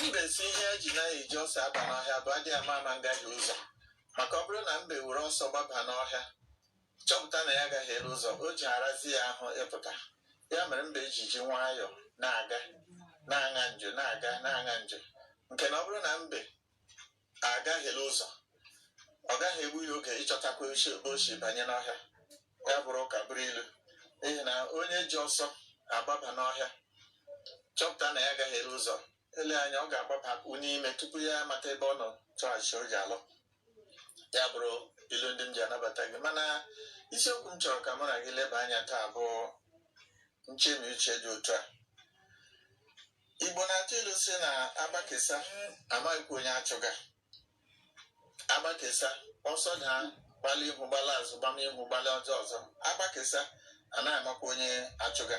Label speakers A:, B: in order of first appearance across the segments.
A: mbe sị ihe e ji anaghị eji ọsọ aba n'ọhịa bụ adị ama ama ngahie ụzọ maka ọ bụrụ na mbe were ọsọ gbaba n'ọhịa chọpụta na ya gahiere ụzọ o ji arazi ya ahụ ịpụta ya mere mbe ji eji nwayọọ na-aga na-aṅa njo na-aga na-aṅa njo nke na ọ bụrụ na mbe agahiela ụzọ ọ gaghị egbu ya oge ịchọtakwa ebe o si banye n'ọhịa ya bụrụ ụka bụrụ ilu n'ihi na onye ji ọsọ agbaba n'ọhịa chọpụta na ya gahiere ụzọ ele anya ọ ga-agbabakwu n'ime tupu ya amata ebe ọ nọ chọghachi o ji alọ ya bụrụ ilu ndị m ji anabata gị mana isiokwu m chọrọ ka mụ na gị leba anya taa bụ nchemi uche dị otu a Igbo na-atụ ilu sị na agbakesa amaghịkwa onye achụga agbakesa ọsọ na gbala ihu gbala azụ gbama ihu gbala azụ ọzọ agbakesa anaghị amakwa onye achụga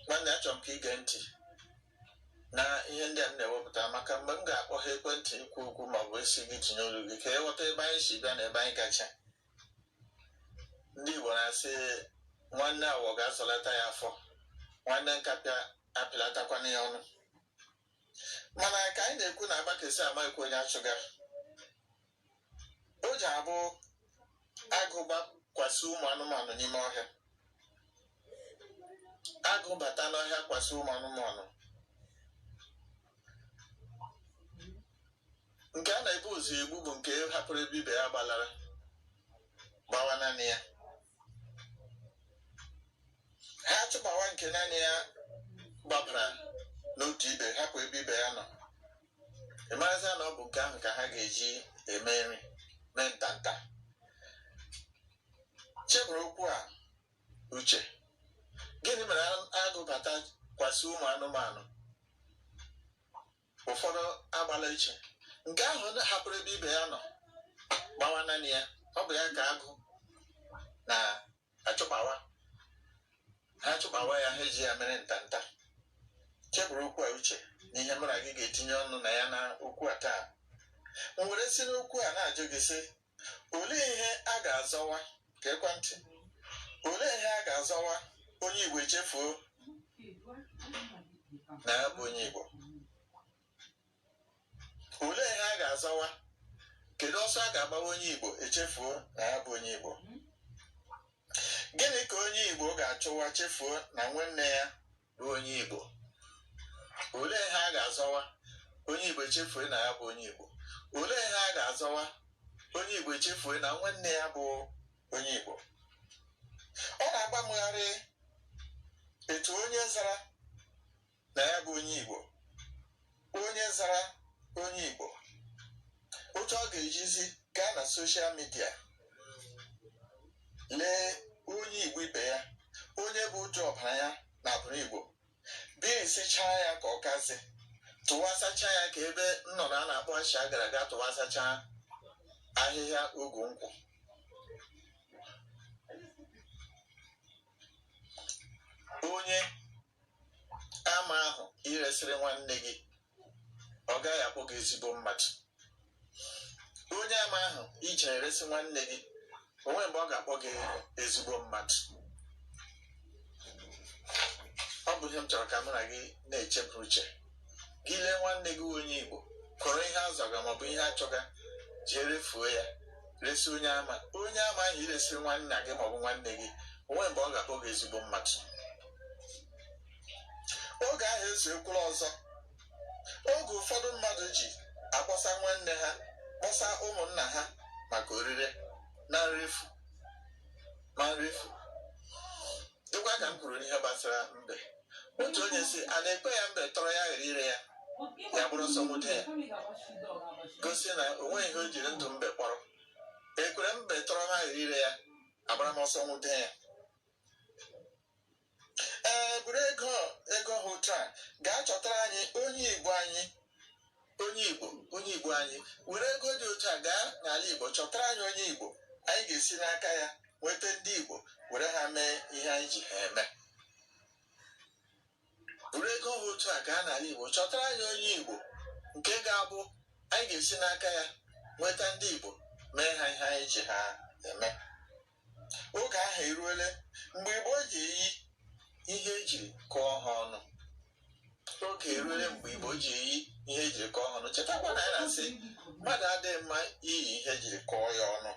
A: nwanne achọrọ m ka i gee ntị na ihe ndị a m na-ewepụta maka mgbe m ga-akpọghe ekwentị ikwu okwu ma ọ bụ asị gị tinye olu gị ka ị ghọta ebe anyị si bịa na ebe anyị gacha ndị Igbo na-asị nwanne awọ ga-azọlata ya afọ nwanne nkapị apịlatakwana ya ọnụ mana ka anyị na-ekwu na agbakesa amaghịkwa onye achụga o ji abụ agụ gbakwasị ụmụ anụmanụ n'ime ọhịa agụ bata n'ọhịa kwasị ụmụ anụmanụ nke a na-ebu ụzọ egbu bụ nke hapụrụ ebe ibe ya gbalara gbawa naanị ya ha achụgbawa nke naanị ya gbabara n'otu ibe hapụ ebe ibe ya nọ ị marazi na ọ bụ nke ahụ ka ha ga-eji eme nri mee ntanta cheburu okwu a uche gịnị mere agụ bata kwasị ụmụ anụmanụ ụfọdụ agbala iche nke ahụ hapụrụ ebe ibe ya nọ gbawa naanị ya ọ bụ ya ka agụ na-achụgbawa ha achụgbawa ya ha eji ya mere ntanta cheburu okwu a uche na ihe mụ na gị ga-etinye ọnụ na ya na okwu a taa m were si n'okwu a na-ajụ gị sị olee ihe a ga-azọwa ka ekwentị olee ihe a ga-azọwa onye igbo echefuo na ya bụ onye igbo olee ihe a ga-azọwa kedu ọsọ a ga-agbawa onye igbo echefuo na ya bụ onye igbo gịnị ka onye igbo ga-achọwa chefuo na nwanne ya bụ onye Igbo olee ihe a ga-azọwa onye Igbo echefue na ya bụ onye Igbo olee ihe a ga-azọwa onye Igbo echefue na nwanne ya bụ onye Igbo ọ na-agbamgharị etu onye zara na ya bụ onye Igbo onye zara onye Igbo otu ọ ga-ejizi gaa na soshal midia lee onye Igbo ibe ya onye bụ uju ọbara ya na abụrụ Igbo berisichaa ya ka ọkazị tụwasacha ya ka ebe nnụnụ a na-akpọ asha gara aga tụwasacha ahịhịa ogu nkwụ onye ama ahụ i resịrị nwanne gị ọ gaghị akpọ gị ezigbo mmadụ onye ama ahụ i je eresị nwanne gị o nwe mgbe ọ ga-akpọ gị ezigbo mmadụ ọ bụ ihe m chọrọ ka mụ na gị na-echeburu uche gị lee nwanne gị onye igbo kọrọ ihe a zọga maọbụ ihe a chọga jee refuo ya resi onye ama onye ama ahụ i resi nwanna gị maọbụ nwanne gị o nwe mgbe ọ ga-akpọ gị ezigbo mmadụ oge ahụ ezuekwala ọzọ oge ụfọdụ mmadụ ji akpọsa nwanne ha kpọsa ụmụnna ha maka orire na nrefu ma nrefu dịkwa ka m kwuru n'ihe gbasara mbe otu onye sị a na-ekwere ya mbe tọrọ ya ghara ire ya ya gbara ọsọ nwude ya gosi na o nweghị ihe o jiri ndụ mbe kpọrọ ekwere mbe tọrọ m ghara ire ya agbara m ọsọ nwude ya ee buru ego ego ha otu a gaa chọtara anyị onye igbo anyị Onye Igbo, onye Igbo anyị, were ego dị otu a gaa n'ala Igbo chọtara anyị onye Igbo anyị ga-esi n'aka ya nweta ndị Igbo were ha mee ihe anyị ji ha eme. Were ego ha otu a gaa n'ala Igbo chọtara anyị onye Igbo nke ga-abụ anyị ga-esi n'aka ya nweta ndị Igbo mee ha ihe anyị ji ha eme. oge ahụ eruole mgbe igbo ji eyi ihe ejiri kọọ ha ọnụ oge eruole mgbe igbo ji eyi ihe ejiri kọọ ha ọnụ chetakwa na a na-asị mmadụ adịghị mma iyi ihe ejiri kọọ ya ọnụ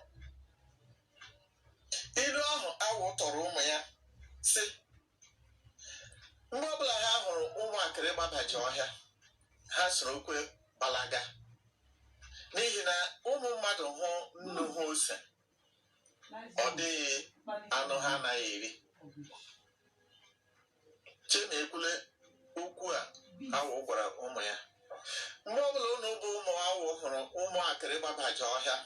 A: ilu ahụ awọ tụọrọ ụmụ ya sị mgbe ọbụla ha hụrụ ụmụakịrị gbabaji ọhịa ha sorokwa gbalaga n'ihi na ụmụ mmadụ hụ nnu hụ ose ọ dịghị anụ ha anaghị eri chena ekwule okwu a awọ gwara ụmụ ya mgbe ọbụla unu bụ ụmụ awọ hụrụ ụmụ akịrị gbabaja ọhịa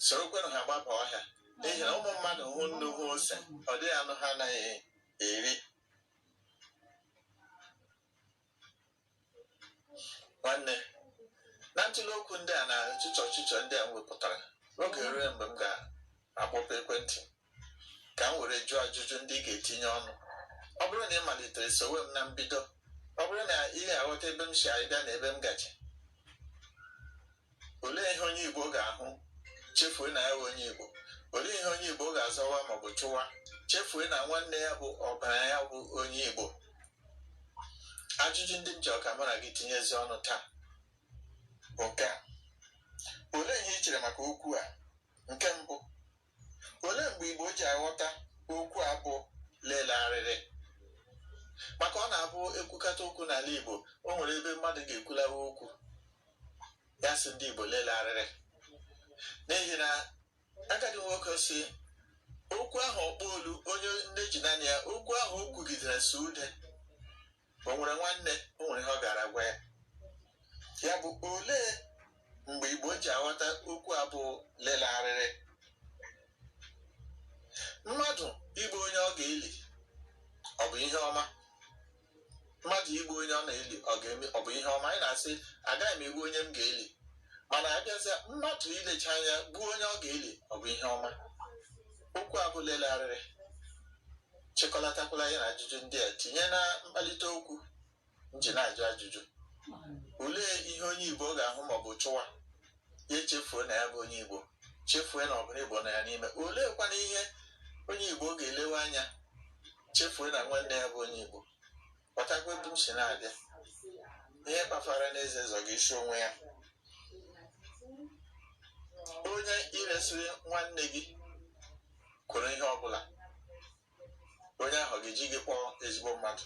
A: sorokwenụ ha gbaba ọhịa n'ihi na ụmụ mmadụ hụ nnu hụ ose ọ dịghị anụ ha anaghị eri nwanne na ntụle okwu ndị a na ọchịchọ ọchịchọ ndị a m wepụtara oge erule mgbe m ga-akpọpụ ekwentị ka m were jụọ ajụjụ ndị ị ga-etinye ọnụ ọ bụrụ na ị malitere sowe m na mbido ọ bụrụ na ị ga-aghọta ebe m si abịa na ebe m gaje olee ihe onye Igbo ga-ahụ chefue na ya bụ onye Igbo olee ihe onye Igbo ga-azọwa maọbụ chụwa chefue na nwanne ya bụ ọbara ya bụ onye Igbo ajụjụ ndị m chọ ka mụ na gị tinyezi ọnụ taa bụ nke a olee ihe ị chere maka okwu a nke mbụ olee mgbe Igbo ji aghọta okwu a bụ lele arịrị maka ọ na-abụ ekwukata okwu n'ala Igbo o nwere ebe mmadụ ga-ekwulawa okwu ya sị ndị Igbo lele arịrị n'ihi na agadi nwoke sị okwu ahụ ọkpọ olu onye nne ji naanị ya okwu ahụ o kwugidere sụọ ude o nwere nwanne o nwere ihe ọ gara gwa ya ya bụ olee mgbe igbo ji aghọta okwu a bụ lele arịrị mmadụ igbu onye ọ ga-eli ọ bụ ihe ọma mmadụ igbu onye ọ na-eli ọ bụ ihe ọma anyị na-asị agaghị m egbu onye m ga-eli mana abịazịa mmadụ ilecha anya gbuo onye ọ ga-eli ọ bụ ihe ọma okwu a bụ lele arịrị chịkọlatakwala ya na ajụjụ ndị a tinye na mkpalite okwu m ji na-ajụ ajụjụ olee ihe onye igbo ga-ahụ maọbụ chụwa ya echefuo na ya bụ onye igbo chefue na ọbara igbo nọ ya n'ime oleekwana ihe onye igbo ga-elewe anya chefue na nwanne ya bụ onye igbo ghọtakwa ebe m si na-abịa ihe kpafara n'eze zọ gị isi onwe ya onye i resịrị nwanne gị kwuru ihe ọbụla onye ahụ ga-eji gị kpọọ ezigbo mmadụ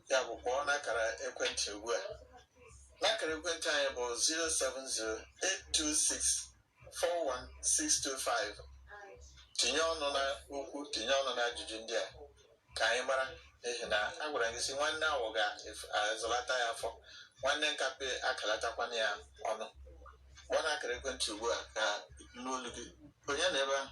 A: ya bụ kpọọ n'akara ekwentị ugbu a n'akara ekwentị anyị bụ 070 826 41625 tinye ọnụ na okwu tinye ọnụ na ajụjụ ndị a ka anyị mara n'ihi na a gwara gị sị nwanne awọ ga-azụlata ya afọ nwanne nkapị akalatakwana ya ọnụ kpọọ n'akara ekwentị ugbu a ka m nụ olu gị onye nọ ebe ahụ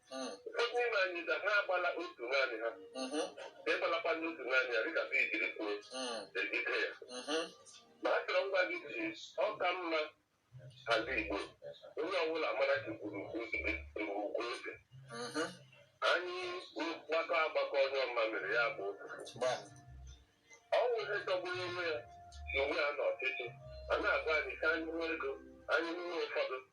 B: Mm. ụfọdụ n'ime anyị gaa ha agbala otu naanị ha Mhm. ị gbalakwa n'otu naanị ya dịka bee jiri kwuo Mm. ejide ya Mhm. ma a chọrọ ngwa gị si ọ ka mma ala Igbo onye ọbụla mara ka gburu ugwu eze Mhm. anyị gbakọ agbakọ onye ọma mere ya bụ Gbam. ọ wụ ihe jọgburu onwe ya na onwe ya n'ọchịchị a na-agwa anyị ka anyị nwee ego anyị nwee ụfọdụ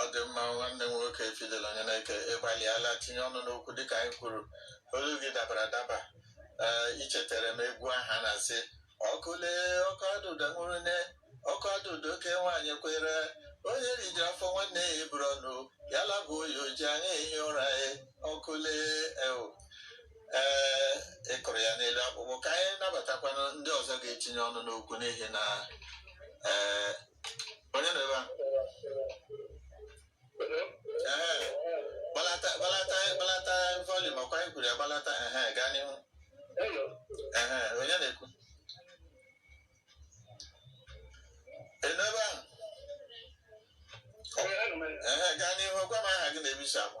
B: ọ dị
A: mma nwanne m nwoke Fidel Onyeneke ị gbalịala tinye ọnụ n'okwu dịka anyị kwuru olu gị dabara adaba ee i chetere m egwu aha na-asị ọkụle ọkụ adụda nwụrụ ne ọkụ adụda oke nwaanyị kwere onye riji afọ nwanne ya eburu ọnụ ya labụ oyi o ji anya ehi ụra ya ọkụle eo ee ị kụrụ ya n'elu akpụkpọ ka anyị nabatakwana ndị ọzọ ga-etinye ọnụ n'okwu n'ihi na ee onye nọ ebe a Ehe. gbalata gbalata gbalata volume ọ kwa anyị kwuru ya gbalata ehe gaa n'ihu ehe onye na-ekwu ị nọ ebe ahụ ehe gaa n'ihu gwa m aha gị na ebe i si akpọ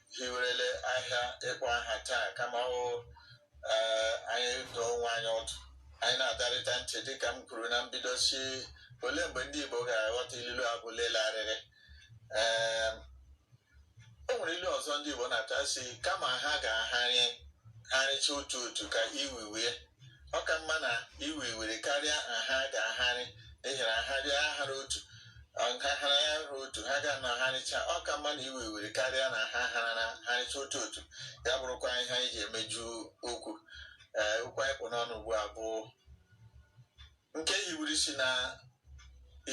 A: hiwerele ahịa ịkpọ aha taa kama ọ eh, anyị dụọ onwe anyị ọdụ anyị na-adọrịta ntị dịka m kwuru na mbido sị olee mgbe ndị Igbo ga-aghọta ilulu a bụ lele arịrị Em, o nwere ilu ọzọ ndị Igbo na-atụ sị kama ha ga-aharị harịcha otu otu ka iwiwe ọ ka mma na iwe iwere karịa na ha ga-aharị n'ihi na nha bịa ahara otu nha hara ya hara otu ha ga na harịcha ọ ka mma na iwe iwere karịa na ha hara na harịcha otu otu ya bụrụkwa ihe anyị ji emeju okwu ee okwu anyị kpụ n'ọnụ ugbu a bụ nke hiwuru isi na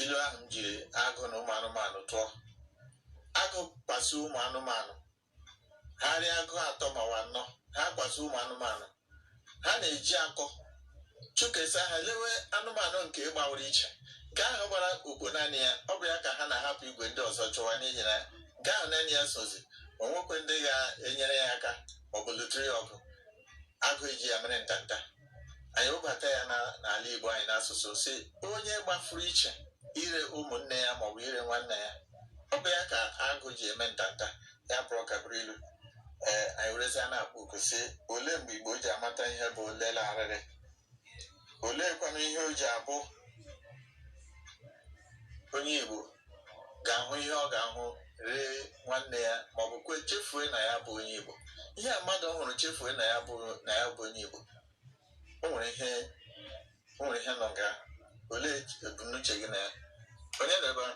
A: ilu ahụ m jiri agụ na ụmụ anụmanụ tụọ agụ kpasu ụmụ anụmanụ ha rị agụ atọ ma ọ wụ anọ ha kpasu ụmụ anụmanụ ha na-eji akọ chụkesa ha lewe anụmanụ nke gbawara iche nke ahụ gbara okpo naanị ya ọ bụ ya ka ha na-ahapụ igwe ndị ọzọ chụwa n'ihi na nke ahụ naanị ya sozi o nwekwe ndị ga-enyere ya aka ọ bụ lụtụrụ ya ọgụ agụ eji ya mere ntanta anyị webata ya n'ala Igbo anyị n'asụsụ sị onye gbafuru iche ire ụmụnne ya maọbụ ire nwanne ya ọ bụ ya ka agụ ji eme ntanta ya bụrụ ka bụrụ ilu ee anyị werezi ya na-akpọ oku sị olee mgbe Igbo ji amata ihe bụ lele arịrị oleekwana ihe o ji abụ onye Igbo ga-ahụ ihe ọ ga-ahụ ree nwanne ya maọbụ kwe chefue na ya bụ onye Igbo ihe a mmadụ ọ hụrụ chefue na ya bụ na ya bụ onye Igbo o nwere ihe o nwere ihe nọ nga olee ebumnuche gị na ya onye nọ ebe ahụ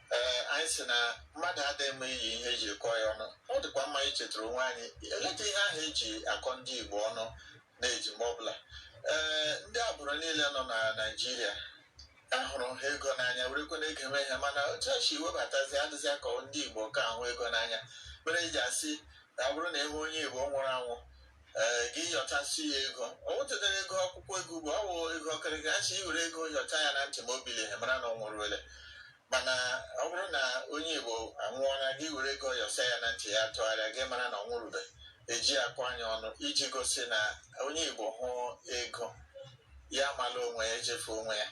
A: ee anyị si na mmadụ adịghị mma iyi ihe eji kọ ya ọnụ ọ dịkwa mma ichetara onwe anyị eleta ihe ahụ eji akọ ndị Igbo ọnụ na-eji mgbe ọbụla ee ndị agbụrụ niile nọ na Naịjirịa ahụrụ ha ego n'anya werekwe na ego eme ihe mana otu e si webatazi adịzi ka ọ ndị Igbo ka ahụ ego n'anya mere eji asị na ọ bụrụ na enwe onye Igbo nwụrụ anwụ ee gị yọchasị ya ego o nwetadara ego akwụkwọ ego ugbo ọ wụ ego ọkịrịka a sị i were ego yọcha ya na ntị ma o bilighi a mara na ọ nwụruole mana ọ bụrụ na onye igbo anwụọla gị were ego yọsa ya na ntị ya tụgharịa gị mara na ọ nwụrụbe eji akọ anyị ọnụ iji gosi na onye igbo hụ ego ya mala onwe ya echefu onwe ya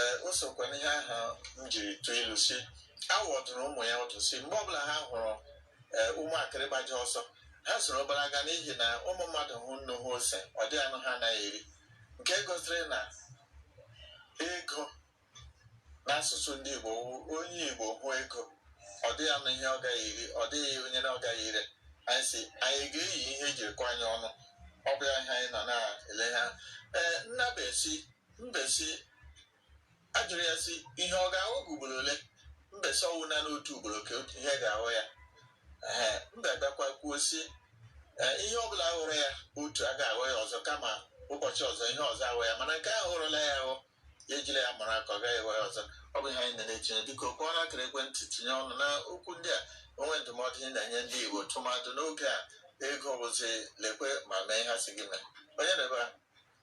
A: ee o sokwa n'ihe ahụ m jiri tụọ ilu si awọ dụrụ ụmụ ya ọdụ si mgbe ọbụla ha hụrụ ee ụmụ akịrị gbaji ọsọ ha soro gbalaga n'ihi na ụmụ mmadụ hụ nnu hụ ose ọ dịghị anụ ha anaghị eri nke gosiri na ego n'asụsụ ndị Igbo wụ onye Igbo hụ ego ọ dịghị anụ ihe ọ gaghị eri ọ dịghị onye na ọ gaghị ire anyị si anyị ga-eyi ihe ejiri kọ anyị ọnụ ọ bụ ya ihe anyị nọ na-ele ha ee nna mbe si mbe si ajụrụ ya si ihe ọ ga-ahụ gị ugboro ole mbe si ọ wụ naanị otu ugboro ka ihe ga-ahụ ya ee mbe bịakwa kwuo si ee ihe ọbụla hụrụ ya otu agaghị ahụ ya ọzọ kama ụbọchị ọzọ ihe ọzọ ahụ ya mana nke ahụ hụrụla ya ahụ ya ejila ya mara akọ ọ gaghị ahụ ya ọzọ ọ bụ ihe anyị na-etinye biko kpọọ n'akara ekwentị tinye ọnụ na okwu ndị a o nwe ndụmọdụ ị na-enye ndị Igbo tụmadụ n'oge a ego bụzi lekwe ma mee ha si gị mee onye nọ ebe a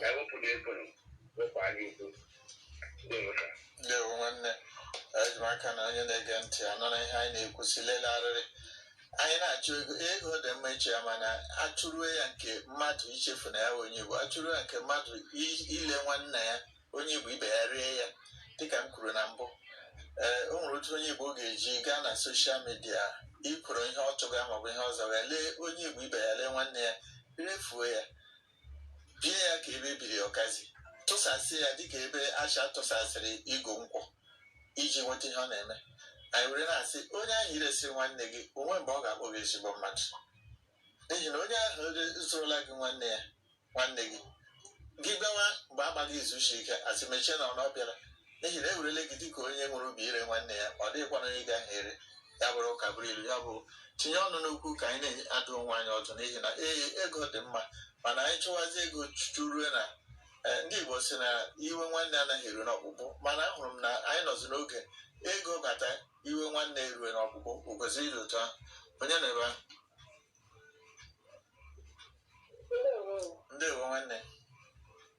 B: ka
A: ewepụ na ego wepụ anya ukwu dịrụka ndewo nwanne eji m aka na onye na-ege ntị anụla ihe anyị na-ekwusi lele arịrị anyị na-achụ ego ego dị mma ịchụ ya mana achụruo ya nke mmadụ ichefu na ya bụ onye igbo achụruo ya nke mmadụ i- ile nwanne ya onye igbo ibe ya ree ya dịka m kwuru na mbụ ee o nwere otu onye igbo ga-eji gaa na soshal midia ikwuru ihe ọ chọga maọbụ ihe ọzọ ya lee onye igbo ibe ya lee nwanne ya refuo ya bie ya ka ebe ebiri ọkazị tụsasị ya dịka ebe asha tụsasịrị igu nkwụ iji nweta ihe ọ na-eme anyị were na-asị onye ahụ iresịrị nwanne gị o nwe mgbe ọ ga-akpọ gị ezigbo mmadụ n'ihi na onye ahụ zụrụla gị nwanne ya nwanne gị gị bịawa mgbe agbaghị izu shi ike asị mechie na ọ bịara n'ihi na ewerele gị dịka onye nwere obi ire nwanne ya ọ dịghịkwana onye gaghị ere ya bụrụ ụka bụrụ ilu ya bụ tinye ọnụ n'okwu ka anyị na-adụ onwe anyị ọdụ n'ihi na ee ego dị mma mana anyị chụwazi ego chụ chụrue na eh, ndị Igbo si na iwe nwanne anaghị eru n'ọkpụkpụ mana ahụrụ m na anyị nọzi n'oge ego bata iwe nwanne erue n'ọkpụkpụ o kwesịrị ịdị otu ahụ onye nọ ebe ahụ ndewo nwanne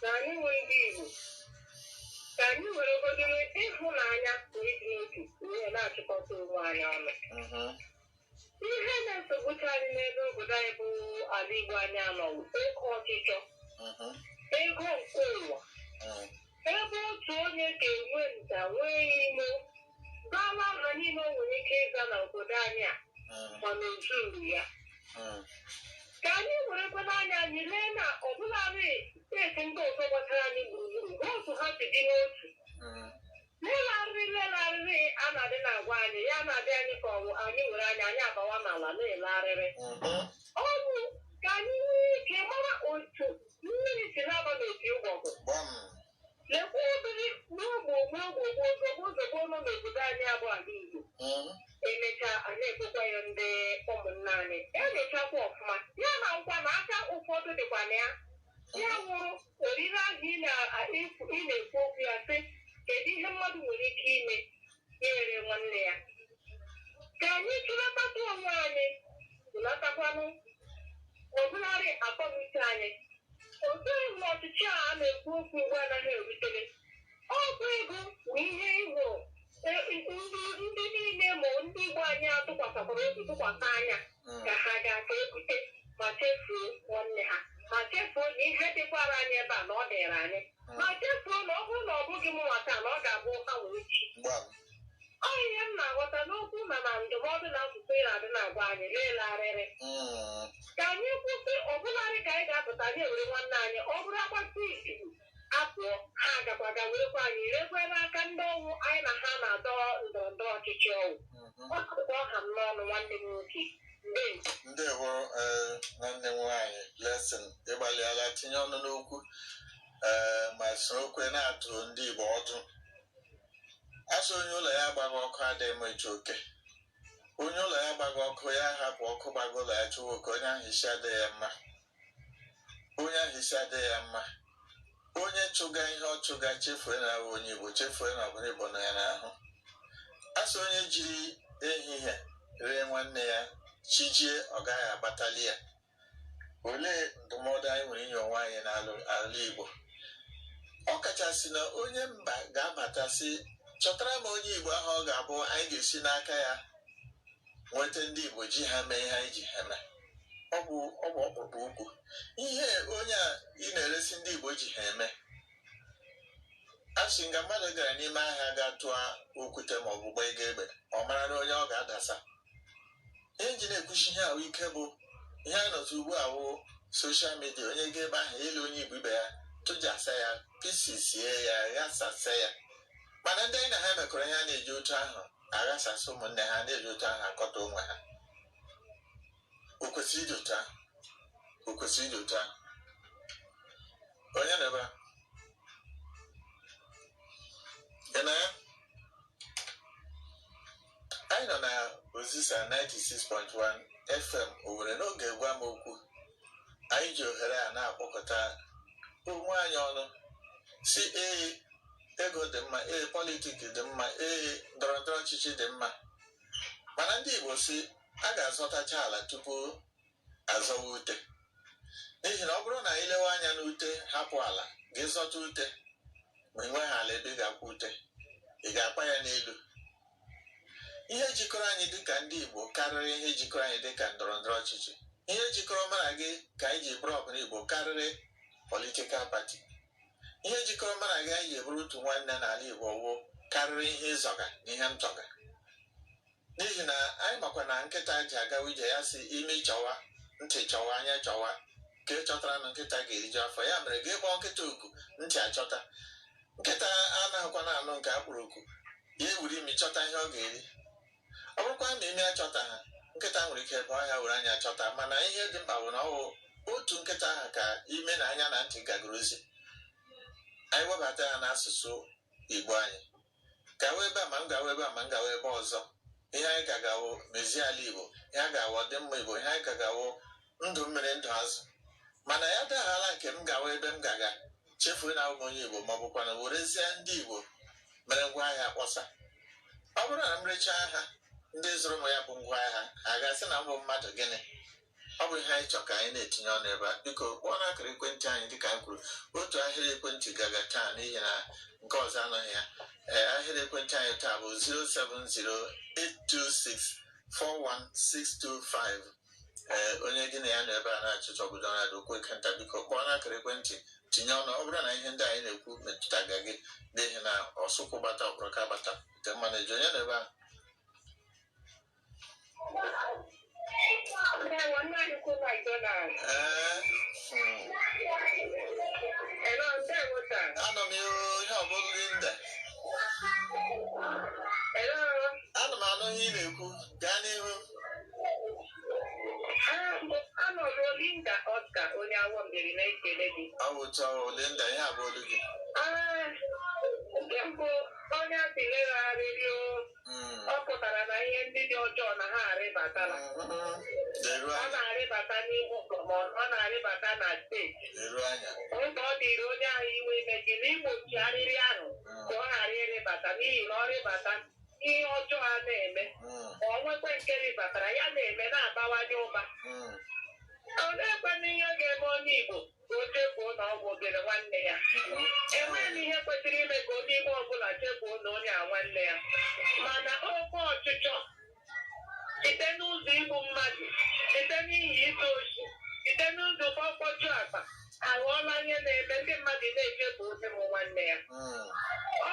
C: na anyị nwe ndị Igbo ka anyị were ogodo ịhụnanya na ịdị n'otu wee na-achịkọta onwe anyị ọnụ mhm. ihe na-esogbucha anyị n'ebe obodo anyị bụ ala Igbo anyị a nọ wụ oke ọchịchọ mhm. ego nke ụwa mhm. ebe otu onye ga-enwe nta nwee imo zawa aha niile o nwere ike ịza na obodo anyị a mm, mana o zuru ya mm, ka anyị werekwanụ anya anyị lee na ọbụladị steeti ndị ọzọ gbachara anyị gburugburu hụ otu ha si dị n'otu mm, leele arịrị leele arịrị a na-adị na-agwa anyị ya na-adị anyị ka ọ wụ anyị were anya anyị abawa n'ala na-ele arịrị mhm, ọ wụ ka anyị nwee ike mara otu mmiri si na-aba n'opi ụgbọgụ gbam lekwa ụdịrị ogbugbu ogbugbu ozogbo ozogbo nọ n'obodo anyị a bụ ala Igbo Mm. emecha a na-ekwekwa ya ndị ụmụnna anyị elechakwa ọfụma ya na nkwa na aka ụfọdụ dịkwa na ya ya wụrụ orire ahụ ị na-ekwu ị na-ekwu okwu ya sị kedu ihe mmadụ nwere ike ime eree nwanne ya ka anyị chụlatakwu onwe anyị chụlatakwanụ ọbụlarị akọnuche anyị oke na ọchịchị a a na-ekwu okwu Igbo anaghị erutere ọ bụ ego bụ ihe ahụ ndị niile ma ndị Igbo anyị a tụkwasịkwara obi tụkwasị anya mm. ka ha ga-aka ebute ma chefuo nwanne ha ma chefuo na ihe dịkwara anyị ebe a na ọ dịrị anyị mm. ma chefuo na ọ bụrụ na ọ bụghị mụnwa taa na ọ ga-abụ hanwa echi ọ ihe m na-aghọta n'okwu na na ndụmọdụ na akụkọ ị na-adị na-agwa anyị leele arịrị mm. ka anyị kwụsị ọbụlarị ka anyị ga-apụta anyị ewere nwanne anyị ọ bụrụ a gbachaa izu apụọ ha agakwa ga werekwa anyị rekwe n'aka ndị ọ wụ anyị na ha na-adọ ndọrọ ndọrọ
A: ọchịchị ọwụ mhm. ọ wụ ka ọ ha m n'ọnụ nwanne m nwoke ndewo eh, nwanne m nwaanyị Blessing ị gbalịala tinye ọnụ n'okwu eh, ma sorokwe na-atụ ndị Igbo ọdụ a sị onye ụlọ ya gbaga ọkụ adịghị achụ oke onye ụlọ ya gbaga ọkụ ya hapụ ọkụ gbaga ụlọ ya chụwa oke onye ahụ isi adịghị ya mma onye ahụ isi adịghị ya mma onye chụga ihe ọ chụga chefue na ọ bụ onye igbo chefue na ọbara igbo nọ ya n'ahụ a sị onye jiri ehihie ree nwanne ya chijie ọ gaghị agbatali ya olee ndụmọdụ anyị nwere inye onwe anyị n'ala igbo ọ kachasị na onye mba ga-abata sị chọtara m onye igbo ahụ ọ ga-abụ anyị ga-esi n'aka ya nweta ndị igbo ji ha mee ihe anyị ji ha mee ọ bụ ọ bụ ọkpụkpụ ukwu ihe onye a ị na-eresi ndị Igbo ji ha eme asị nga mmadụ gara n'ime ahịa ga tụọ okwute ma ọ bụ gbaa e egbe ọ mara na onye ọ ga-adasa ihe m ji na-ekwusi ihe ahụ ike bụ ihe a nọtụ ugbu a wụ soshal midia onye ga ebe ahụ ịlụ onye Igbo ibe ya tụjasa ya pisisie ya ghasasa ya mana ndị anyị na ha mekọrọ ihe a na-eji otu ahụ aghasasị ụmụnne ha na-eji otu ahụ akọta onwe ha o kwesịghị ịdị otu ahụ o kwesịghị ịdị otu ahụ onye nọ ebe a ị na anyị nọ na ozisa 96.1 fm owere n'oge gwa m okwu anyị ji ohere a na-akpọkọta onwe anyị ọnụ sị ee ego dị mma ee politiki dị mma ee ndọrọ ndọrọ ọchịchị dị mma mana ndị Igbo sị a ga-azọtacha ala tupu azọwa ute n'ihi na ọ bụrụ na i lewe anya n'ute hapụ ala gị zọta ute ma i nweghị ala ebe ị ga-akwa ute ị ga-akwa ya n'elu ihe jikọrọ anyị dịka ndị Igbo karịrị ihe jikọrọ anyị dịka ndọrọ ndọrọ ọchịchị ihe jikọrọ mụ na gị ka anyị ji bụrụ ọbara Igbo karịrị politikal pati ihe jikọrọ mụ na gị anyị ji bụrụ otu nwanne n'ala Igbo wụ karịrị ihe ị zọga na ihe m zọga n'ihi na anyị makwa na nkịta ji agawa ije ya sị imi chọwa ntị chọwa anya chọwa nke chọtara anụ nkịta ga-eriju afọ ya mere gị kpọọ nkịta oku ntị achọta nkịta anaghịkwa na-anụ nke a kpọrọ oku ya ewere imi chọta ihe ọ ga-eri ọ bụrụkwa na imi achọtaghị nkịta nwere ike baa ọhịa were anya chọta mana ihe dị mkpa bụ na ọ wụ otu nkịta ahụ ka imi na anya na ntị gagara ozi anyị webata ya n'asụsụ igbo anyị gawa ebe a ma m gawa ebe a ma m gawa ebe ọzọ ihe anyị gaga wụ mezie ala igbo ihe a ga-awụ ọdịmma igbo ihe anyị gaga wụ ndụ mmiri ndụ azụ mana ya adịghala nke m gawa ebe m gaga chefuo na m bụ onye Igbo ma ọ bụkwanụ werezie ndị Igbo mere ngwa ahịa kpọsa ọ bụrụ na m rechaa ha ndị zụrụ m ya bụ ngwa ahịa ha ga-asị na m bụ mmadụ gịnị ọ bụ ihe anyị chọrọ ka anyị na-etinye ọnụ ebe a biko kpọọ n'akara ekwentị anyị dịka anyị kwuru otu ahịrị ekwentị gaga taa n'ihi na nke ọzọ anọghị ya ee ahịrị ekwentị anyị taa bụ 07082641625 ee onye gị na ya nọ ebe a na-achịchọgodo na dokwe kenta biko kpọọ n'akara ekwentị tinye ọnụ ọ bụrụ na ihe ndị anyị na-ekwu metụtaga gị n'ihi na osukwu gbata ọkpọrọka gbata nke mmanụ eju onye nọ ebe a ee anọ m ihe ọ bụrụ gị nda ana m anụ ihe ị na-ekwu
C: gaa n'ihu Anọ Rolinda Oscar onye Awo Mbieri na-ekele gị. awụcha
A: olinda ihe a
C: bụ olu gị Ee, nke mbụ onye a sị lekwa arịrị o, Mm. ọ pụtara na ihe ndị dị ọjọọ na ha arịbatala. Mhm. leru anya Ọ na-arịbata n'ime ụlọ ma ọ na-arịbata na steeti. leru anya Oge ọ dịrị onye ahụ iwe ime gịnị igbochi arịrị ahụ ka ọ ghara ịrịbata n'ihi na ọ rịbata ihe ọjọọ a na-eme mm, ma o nwekwa nke rịbatara ya na-eme na-abawanye ụba mm. oleekwanụ ihe ga-eme onye Igbo ka o chefuo na ọ bụ obere nwanne ya enweghị ihe kwesịrị ime ka onye Igbo ọbụla chefuo na onye a nwanne ya mana oke ọchịchọ site n'ụzọ igbu mmadụ site n'ihi izu oshi site n'ụzọ mkpọju akpa aghọọla ihe na-eme ndị mmadụ na-echefuzi ụmụ nwanne ya Mm,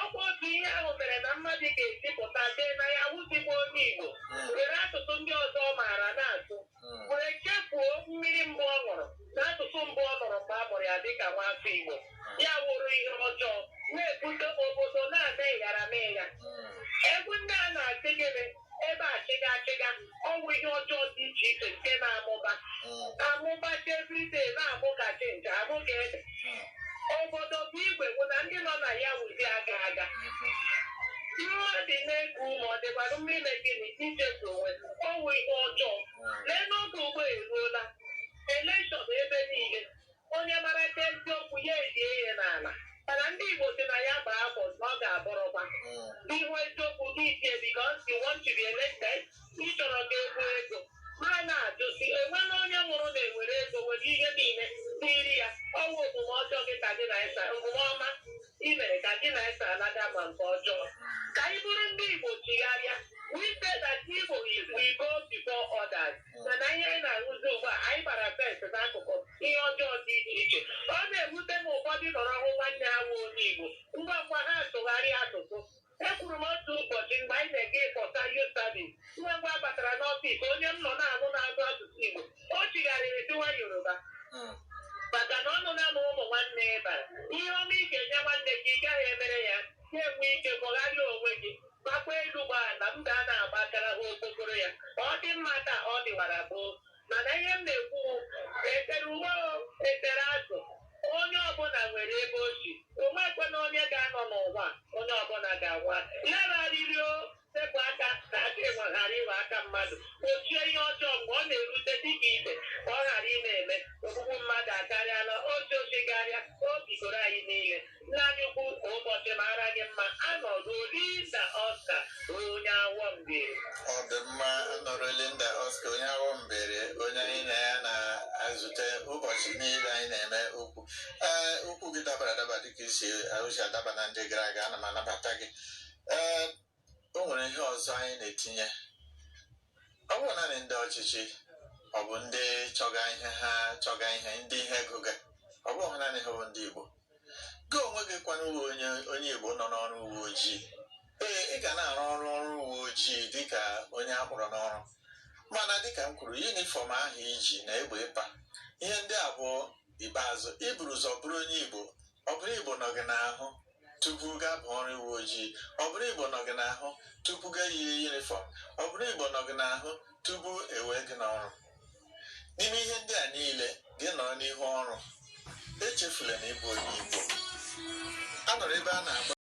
C: ọkwa otu ihe ahụ mere na mmadụ ga-esi pụta dee na ya wụ ezigbo onye Igbo mm, were asụsụ ndị ọzọ ọ maara na-asụ mm. were chefuo mmiri mbụ ọ ṅụrụ na asụsụ mbụ ọ nụrụ mgbe a mụrụ ya dịka nwafọ Igbo ya wụrụ ihe ọjọọ na-ebute obodo na-ama ịghara ma ịgha egwu ndị a na-asị gịnị ebe a chịga achịga ọ wụ ihe ọjọọ dị iche iche nke na-amụba amụbacha everyday na-amụ ka ji na-amụ ka ede obodo bụ igwe bụ na ndị nọ na ya wụzi aga aga mmadụ na-eku ume ọ dịkwara mma ime gịnị ichezọ onwe ọ wụ ihe ọjọọ lee n'oge ugbu a eruola elekshọn ebe niile Onye maracha eziokwu ya elie ya n'ala. Mana ndị Igbo sị na ya gbaa afọ na ọ ga-abọrọkwa. Ị hụ eziokwu gị elie because you want to be elected, ị chọrọ ka egwu ego. Ma na-ajụ sị, o nweela onye nwụrụ na e were ego were ihe niile tiiri ya. Ọ wụ omume ọjọọ gị ka gị na ya so omume ọma i mere ka gị na ya so alaga ma nke ọjọọ. Ka anyị bụrụ ndị Igbo chigharịa. We say that Igbo is we go before others. mana ihe anyị na-ahụzi ugbu a anyị gbara first n'akụkụ ihe ọjọọ dị iche iche ọ na-ewute m ụfọdụ nọrọ hụ nwanne ha wụ onye Igbo ngwa ngwa ha atụgharịa asụsụ ekwuru m otu ụbọchị mgbe anyị na-eje ịkpọta youth service ngwa ngwa a batara n'ọfịs onye m nọ na-anụ na-asụ asụsụ Igbo o chigharịrị dịwa Yoruba maka na ọ nụ na ụmụ nwanne ya bara ihe ọma ị ga-enye nwanne gị ị gaghị emere ya na-enwe ike kpọgharịa onwe gị Gbakwa elu gba ala, m ga na-agbakara ha okpokoro ya. Ọ dị mma ka ọ dịwara gboo. Mana ihe m na-ekwu wụ, e tere ụgba o, e tere azụ, onye ọbụla nwere ebe o si. O nweghịkwanụ onye ga-anọ n'ụwa a, onye ọbụla ga-anwụ a. Lekwa arịrị o, sepụ aka ka aka enwe ghara ịghọ aka mmadụ. Gbochie ihe ọjọọ mgbe ọ na-erute dị ka ibe ka ọ ghara ịna-eme. Ogbugbu mmadụ akarịala, oshi oshi karịa, o bigoro anyị niile. Nna anyị ukwu ka ụbọchị
A: mara gị mma
C: Anọruo
A: Linda
C: Oscar onye awọ mbiri. Ọ dị mma Anọruo Linda Oscar onye Awo Mbieri
A: onye anyị na ya na-ezute ụbọchị niile anyị na-eme okwu. Ee, okwu gị dabara adaba dịka isi ahụsi adaba na ndị gara aga ana m anabata gị. Ee, o nwere ihe ọzọ anyị na-etinye ọ bụ naanị ndị ọchịchị ọ bụ ndị chọga ihe ha chọga ihe ndị ihe gụga ọ bụ naanị ha bụ ndị Igbo gị onwe gị kwanụ onye onye Igbo nọ n'ọrụ uwe ojii ee ị ga na-arụ ọrụ ọrụ uwe ojii dịka onye a kpọrọ n'ọrụ mana dịka m kwuru yunifọm ahụ i ji na egbe ị pa ihe ndị a bụ ikpeazụ i buru ụzọ bụrụ onye Igbo ọ bụrụ Igbo nọ gị n'ahụ tupu gaba ọrụ uwe ojii ọ bụrụ igbo nọ gị n'ahụ tupu gaa yie yunifọm ọ bụrụ igbo nọ gị n'ahụ tupu e wee gị n'ọrụ n'ime ihe ndị a niile gị nọrọ n'ihu ọrụ echefula na ị bụ onye igbo a nọrọ ebe a na-agba